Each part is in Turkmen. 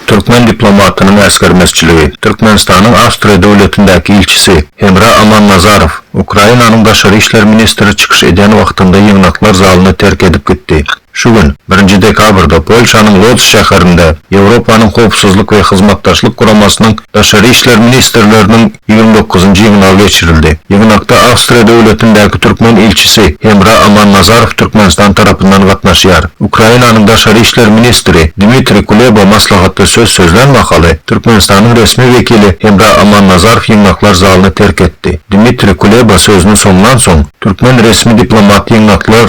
Türkmen diplomatynyň äsgermezçiligi, Türkmenistanyň Awstriýa döwletindäki ilçisi Hemra Amannazarow Ukrainanyň daşary işler ministri çykyş edýän wagtynda ýygnaklar zalyny terk edip gitdi. Şu gün, birinji dekabrda Polşanyň Lodz şäherinde Ýewropanyň Howpsuzlyk we Hyzmatdaşlyk Guramasynyň daşary işler ministrleriniň ýigrimi dokuzynjy ýygnagy geçirildi. Ýygnakda Awstriýa döwletindäki türkmen ilçisi Hemra Amannazarow Türkmenistan tarapyndan gatnaşýar. Ukrainanyň daşary işler ministri Dmitriý Kuleba maslahatda söz sözlän mahaly, Türkmenistanyň resmi wekili Hemra Amannazarow ýygnaklar zalyny terk etdi. Dmitriý Kuleba sözüni soňlansoň, türkmen resmi diplomat ýygnaklar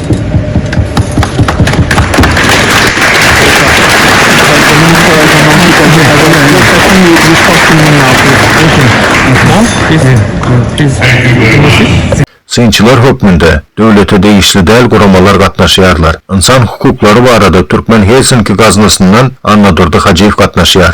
Synçylar hökmünde döwlete degişli däl guramalar gatnaşýarlar. Ynsan hukuklary barada Türkmen Helsinki gaznasyndan Annadurdy Hajyýew gatnaşýar.